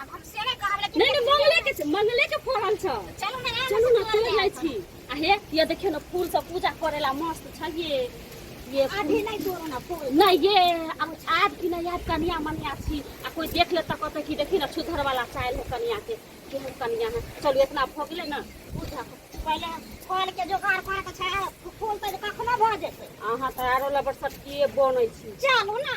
अब हम से नहीं कहब लेकिन नहीं नहीं मंगले के छै, मंगले के फरल छ चलू ना यहाँ चलू से ना तोड़ तोड़ ले लै आएब। छी आ हे ये देखियो ना फूल सब पूजा करेला मस्त छ ये ये फूल- अभी नहीं तोड़ो ना फूल नहीं ये अब आज की नहीं आज कनिया मनिया छी आ कोई देख ले तो कहते कि देखी ना सुधर वाला चायल है कनिया के केहन कनिया है चलो इतना भऽ गेलै ना पूजा पहले फल के जोगाड़ करे के छै फूल तऽ कखनो भऽ जेतै अहाँ तऽ आरो लबर सटकिए बनै छी चलू ना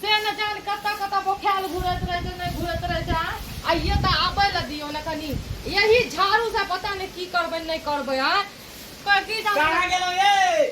से ने जान कतऽ कतऽ बोखायल घुरैत रहै छै नहि घुरैत रहै छै आ आइये तऽ आबै लए दियौ ने कनि यही झाड़ू से पता नहि की करबै नहि करबै आ की जानै कहाँ गेलौ ये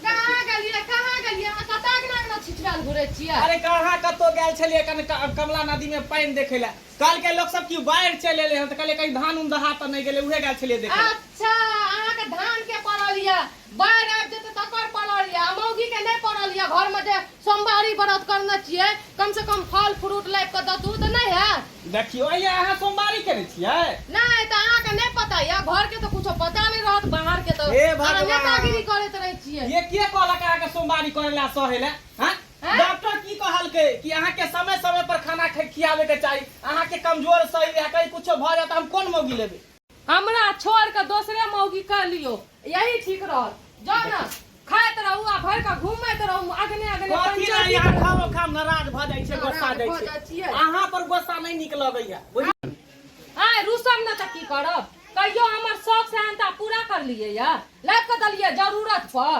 कहाँ गेलियै कहाँ गेलियै अहाँ कतऽ अगना अगना छिछुआल घुरै छियै अरे कहाँ कतौ गेल छलियै कनि क- कमला नदी में पानि देखे लए कहलकै लोक सब की बाढ़ि चलि एलै हन तऽ कहलियै कहीं धान उन दहा तऽ नहि गेलै उहे गेल छलियै देखे लए। अच्छा अहाँके धान के पड़ल यऽ बाढ़ि आबि जेतै तकर पड़ल यऽ आ मौगीके नहि पड़ल यऽ घरमे जे सोमवारी व्रत करने छियै कमसँ कम फल फ्रूट लाबि कऽ दतू तऽ नहि हैत देखियौ अइया अहाँ सोमवारी करै छियै नहि तऽ अहाँके नहि पता यऽ घरके तऽ किछो पता नहि रहत बाहरके तऽ हे भगवान। अहाँ नेतागिरी करैत रहै छियै ये के कहलक अहाँके सोमवारी करै लए सहै लए हँ हैं? डॉक्टर की कहलकै कि अहाँके समय समय पर खाना खै- खियाबे के चाही अहाँके कमजोर शरीर है कहीं कुछो भऽ जाए तऽ हम कोन मौगी लेबै हमरा छोड़ के दोसरे मौगी कर लियो यही ठीक रहत जाओ ना खाइत रहू आ भर के घूमत रहू अगने अगने कथी ला पंचायती यहाँ करत खाओ रहू। खाम नाराज भऽ जाइ छै गोस्सा नाराज जाइ भऽ जाइ छै छियै। अहाँ पर गोस्सा नहि नीक लगैया बुझलियै? आय रुसम न तऽ की करब कहियो हमर शौक सेहनता पूरा कर लिए या लाग के दलिए जरूरत पर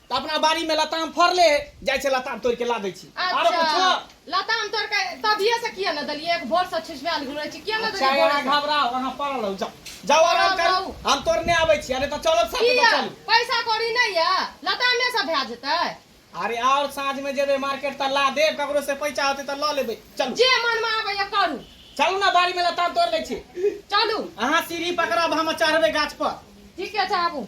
तऽ अपना बाड़ी में लताम फड़ले है जाइ छै लताम तोड़ के ला दै छी आरो अच्छा कुछो लताम तोड़ के तभिए से किया ने देलियै एक भोर से छिछबाल घुरे छी किया ने अच्छा देलियै भोर अहाँ से घबराउ अहाँ पड़ल रहू जाउ जाउ आराम पड़ल करू रहू। हम तोड़ने आबै छी अरे तऽ चलब साथे तऽ किया चलू पैसा कौड़ी नहि ये लतामे से भए जेतै अरे और साँझ में जेबै मार्केट तऽ ला देब ककरो से पैसा होतै तऽ लऽ लेबै चलू जे मन में आबैया करू चलू ने बाड़ी में लताम तोड़ लै छी चलू अहाँ सीढ़ी पकड़ब हम चढ़बै गाछ पर ठीके छै आबू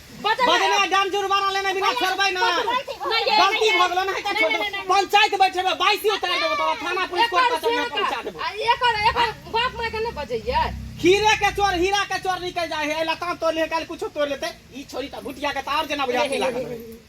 बदला डाम जुर्माना लेने बिना छोड़बै ना गलती भ गेलो ना हेता छोड़ पंचायत बैठेबे बाइसी उतार देबो तोरा थाना पुलिस कोर्ट कचहरी में पहुंचा देबो एकर एकर बाप माय के नै बजैया खीरे के चोर हीरा के चोर निकल जाए है लता तोड़ ले काल कुछ तोड़ लेते ई छोरी त भुटिया के तार जना बुझा लागल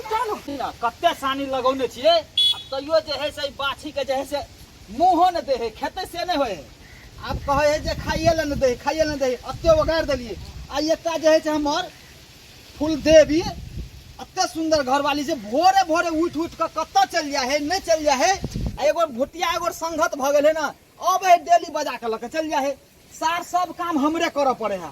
कते सानी लगौने छियै आ तैयो जे है से बाछी के जे है से मुँहो ने दे है खेते से नहीं होए आब कहे है जे खाइए ले ने दे खाइए ले दे अत्ते ओगार दिलिए आ एकटा जे है से हमर फूल देवी अत्ते सुंदर घरवाली जे भोरे भोरे उठ उठ के कत्ते चल जाए है नहीं चल जाए है एगो भुटिया एगो संगत भ गए है ना अब है डेली बजा के लके चल जाए है सार सब काम हमरे करे पड़े है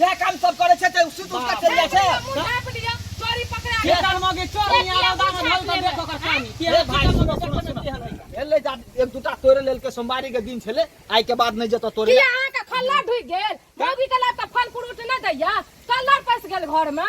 वएह काम सब करे छै त सुत उठ के चल जाय छै मुंह लिया चोरी पकड़ा के कान मगे चोर नहीं आ रहा है ढल कर देखो कर पानी तेरे भाई सुनो सुनो सुनो हेले जा एक दुटा तोरे लेल के सोमवारी के दिन छले आइ के बाद नहीं जतो तोरे अहाँ के खल्ला ढुक गेल मौगी के लात फल फ्रूट न दैया कल्लर पस गेल घर में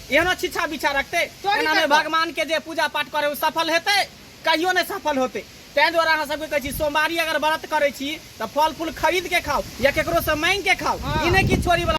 एहनो छिछा बिछा रखते एना में भगवान के जे पूजा पाठ करे ओ सफल हेते कहियो नहीं सफल होते तै दुआरे अहाँ सबके कहै छी सोमवारी अगर व्रत करै छी तऽ फल फूल खरीद के खाओ या केकरो से मांग के खाओ ई नहीं कि छोरी वाला